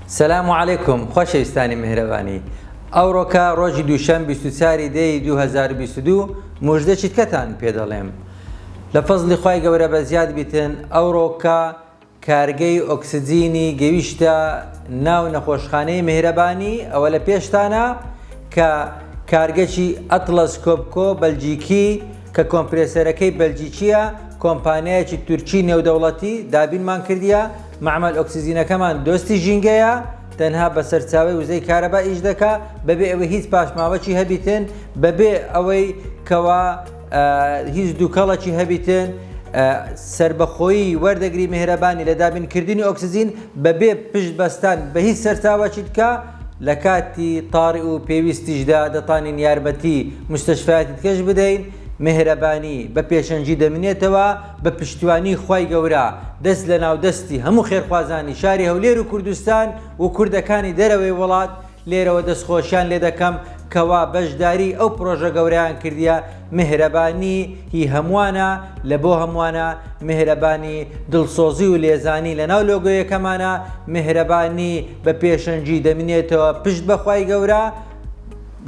سلام و علیکم خۆشەویستانی مهرەبانی ئەوڕۆکە ڕۆژی دووشەم 24 دەی 2022 مژدە چیتکەتان پێ دەڵێم لە فەزلی خی گەورە بە زیاد بیتن ئەوڕۆکە کارگەی ئۆکسجینی گەویشتە ناو نەخۆشخانەی میهرەبانی ئەوە لە پێشتانە کە کارگەکی ئەتڵەس کۆپکۆ بەلجیکی کە کۆمپرێسەرەکەی بەلجیکیە کۆمپانیایەکی تورکی نێودەوڵەتی دابینمان کردیە مەعمەل ئۆکسجینەکەمان دۆستی ژینگەیە تەنها بە سەرچاوەی وزەی کارەبا ئیش دەکا بەبێ ئەوەی هیچ پاشماوەکی هەبیتن بەبێ ئەوەی کەوا هیچ دووکەڵەکی هەبیتن سربەخۆیی وەردەگری مهرەبانی لە دابینکردنی ئۆکسزین بەبێ پشت بەستان بە هیچ سەرچاوەکی دکە لە کاتی تاڕی و پێویستیشدا دەتانین یارمەتی مستشفیاتی دکەش بدەین مهرەبانی بە پێشەنگی دەمینێتەوە بە پشتیوانی خوای گەورە دەست لەناو دەستی هەموو خێرخوازانی شاری هەولێر و کوردستان و کوردەکانی دەرەوەی وڵات لێرەوە دەستخۆشیان لێ دەکەم کەوا بەشداری ئەو پڕۆژە گەورەیان کردیە، میهرەبانی هی هەمووانە، لە بۆ هەمووانە، میهرەبانی دڵسۆزی و لێزانی لە ناو لۆگۆیەکەمانە، میهرەبانی بە پێشەنگی دەمنێتەوە پشت بە خوای گەورە،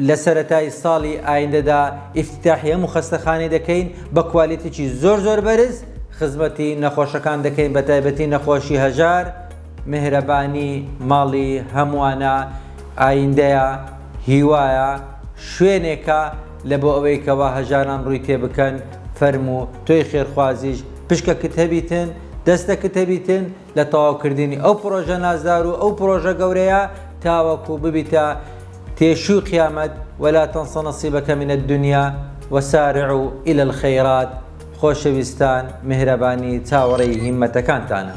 لە سەرەتای ساڵی ئایندەدا ئیفتیتاحی هەموو خەستەخانەی دەکەین بە کوالێتێکی زۆر زۆر بەرز خزمەتی نەخۆشەکان دەکەین بە تایبەتی نەخۆشی هەژار، میهرەبانی ماڵی هەمووانە، ئایندەیە، هیوایە، شوێنێکە لە بۆ ئەوەی کەوا هەژاران ڕووی تێ بکەن، فەرموو تۆی خێرخوازیش پشکەکت هەبیتن، دەستەکت هەبیتن لە تەواوکردنی ئەو پڕۆژە نازدار و ئەو پڕۆژە گەورەیە تاوەکو ببیتە تێشووی قیامەت، ولا تنس نصیبک من الدنیا وسارعوا الی الخیرات. خۆشەویستان میهرەبانی چاوەڕێی هیمەتەکانتانە.